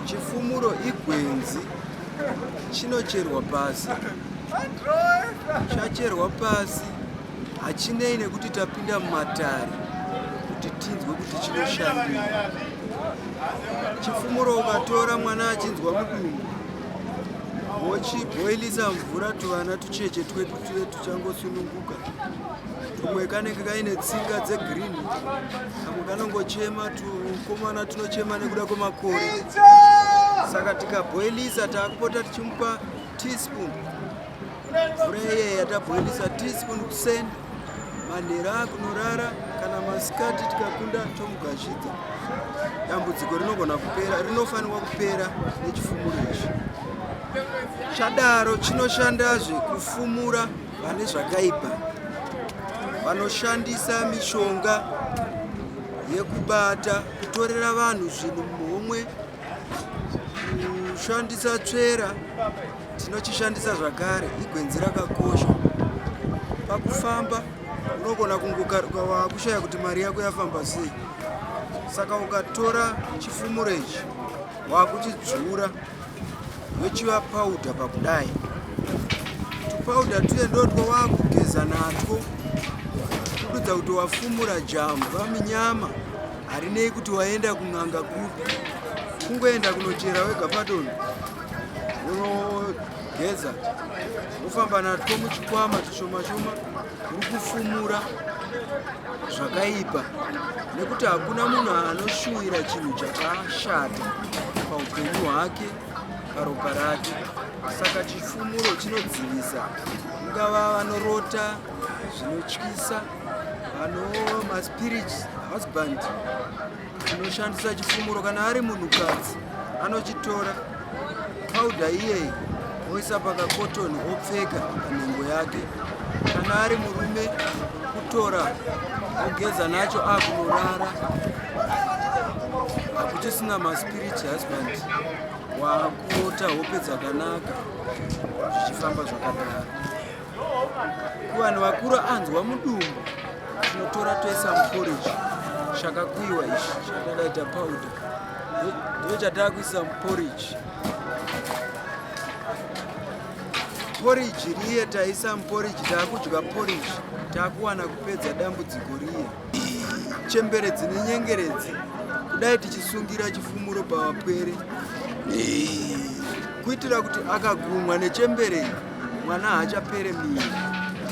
Chifumuro igwenzi chinocherwa pasi, chacherwa pasi hachinei nekuti tapinda mumatare kuti tinzwe kuti chinoshandei. Chifumuro ukatora mwana achinzwa mudumbu wochiboilisa mvura tuvana tucheche twedu tuve changosununguka tumwe kanenge kaine tsinga dzegreen kamwe kanongochema tukomana tunochema nekuda kwemakore saka tikabhoilisa taakupota tichimupa teaspoon mvura iyeya tabhoilisa teaspoon kuseni manhera akunorara kana masikati tikakunda tomugashidza dambudziko rinogona kupera rinofanirwa kupera nechifumuro izvi Chadaro chinoshandazve kufumura vane zvakaipa vanoshandisa mishonga yekubata kutorera vanhu zvinhu muhomwe kushandisa tsvera tinochishandisa zvakare igwenzi rakakosha pakufamba unogona kungokaruka wakushaya kuti mari yako yafamba sei saka ukatora chifumuro ichi wakuchidzvura wechiva powder pakudai tupowder tuye ndotwo wakugeza natwo kududza kuti wafumura jamu vaminyama harinei kuti waenda kun'anga kupi kungoenda kunochera wega padoni unogeza wofamba natwo muchikwama tushoma shoma kuri kufumura zvakaipa nekuti hakuna munhu anoshuwira chinhu chakashata paupenyu hwake paropa rake saka chifumuro chinodzivisa ungava vanorota zvinotyisa vano maspirits husband anoshandisa chifumuro kana ari munhukadzi anochitora paudha iyeyi oisa pakakotoni opfeka panhengo yake kana ari murume kutora ogeza nacho akunorara hakuchisina maspirit husband wakuota hope dzakanaka zvichifamba zvakadaro kuvanhu vakura anzwa mudumbu tinotora toisa muporiji chakakuiwa ichi chatakaita powder ndiyo chatakuisa muporiji poriji riye taisa muporiji taakudya poriji taakuwana kupedza dambudziko riye chembere dzine nyengeredzi kudai tichisungira chifumuro pavapwere kuitira kuti akagumwa nechembere mwana haachapere miri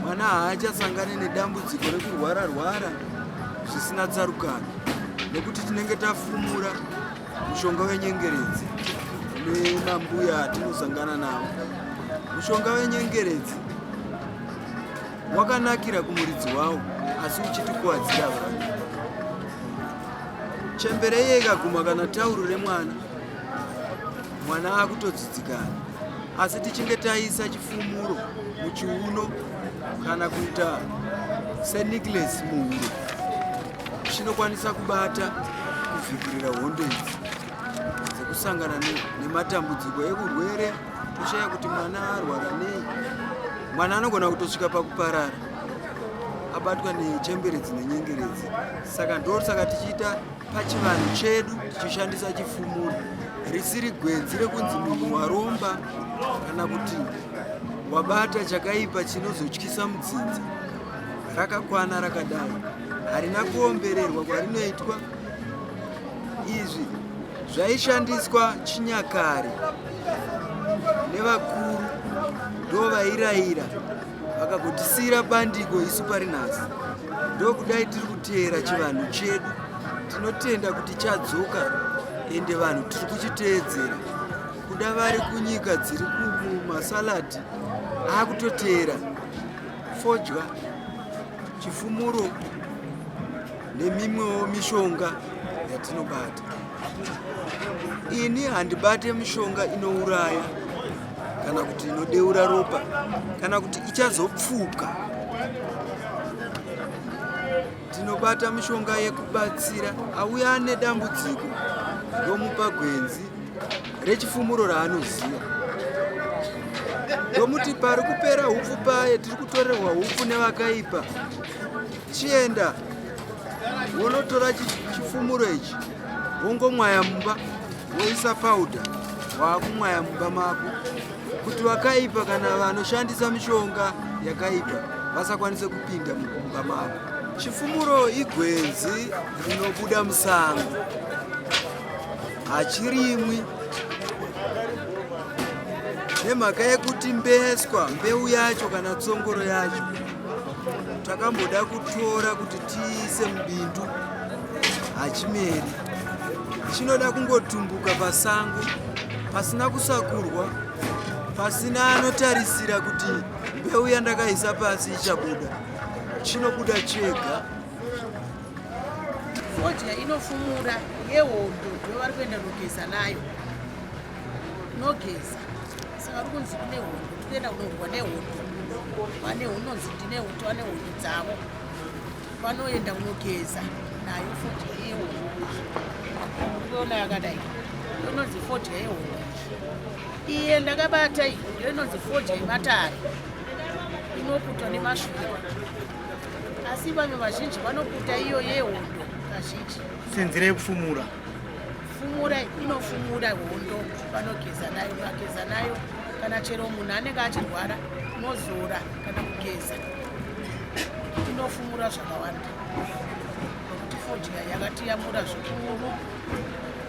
mwana haachasangane nedambudziko rekurwara rwara zvisina tsarukano nekuti tinenge tafumura mushonga wenyengeredzi nemambuya atinosangana navo mushonga wenyengeredzi wakanakira kumuridzi wawo asi uchitikuwadzira vanhu chembere iye ikaguma kana tauro remwana mwana akutodzidzikana asi tichinge taisa chifumuro muchiuno kana kuita senicles muhuro chinokwanisa kubata kuvhikirira hondo idzi dzekusangana nematambudziko ekurwere kushaya kuti mwana arwara nei mwana anogona kutosvika pakuparara abatwa nechemberedzi nenyengeredzi saka ndosaka tichiita pachivanhu chedu tichishandisa chifumuro risiri gwenzi rekunzi munhu waromba kana kuti wabata chakaipa chinozotyisa mudzinza rakakwana rakadai harina kuombererwa kwarinoitwa izvi zvaishandiswa chinyakare nevakuru ndo vairayira vakagotisiyira bandiko isu pari nhasi ndokudai tiri kuteera chivanhu chedu tinotenda kuti chadzoka ende vanhu tiri kuchiteedzera kuda vari kunyika dziri kumasaladi akutoteera fodya chifumuro nemimwewo mishonga yatinobata. Ini handibate mishonga inouraya kana kuti inodeura ropa kana kuti ichazopfuka. Tinobata mishonga yekubatsira auya ane dambudziko ndomupa gwenzi rechifumuro raanoziva ndomuti pari kupera upfu paye tiri kutorerwa upfu nevakaipa chienda wonotora chifumuro ichi wongomwaya mumba woisa pauda waakumwaya mumba mako kuti vakaipa kana vanoshandisa mishonga yakaipa vasakwanise kupinda mumba mako chifumuro igwenzi rinobuda musango hachirimwi nemhaka yekuti mbeswa mbeu yacho kana tsongoro yacho takamboda kutora kuti tiise mubindu hachimeri chinoda kungotumbuka pasango pasina kusakurwa pasina anotarisira kuti mbeu yandakaisa pasi ichabuda chinobuda chega fodya inofumura yehondo ndovari kuenda nogeza nayo nogeza Saka uri kunzi kune hondo, tikuenda kunorwa nehondo. Vane hunonzi ndine hondo, vane hondo dzavo. Vanoenda kunogeza nayo fodya yehondo. Unoona yakadai, inonzi fodya yehondo. Iye ndakabata iyi, ndiyo inonzi fodya yematare. Inoputwa nemashure. Asi vamwe vazhinji vanoputa iyo yehondo kazhinji. Senzira yekufumura. fumura inofumura hondo vanogeza nayo vageza nayo kana chero munhu anenge achirwara unozora kana kugeza inofumura zvakawanda nokuti fodya yakatiyamura zvikuru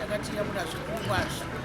yakatiyamura zvikuru kwazvo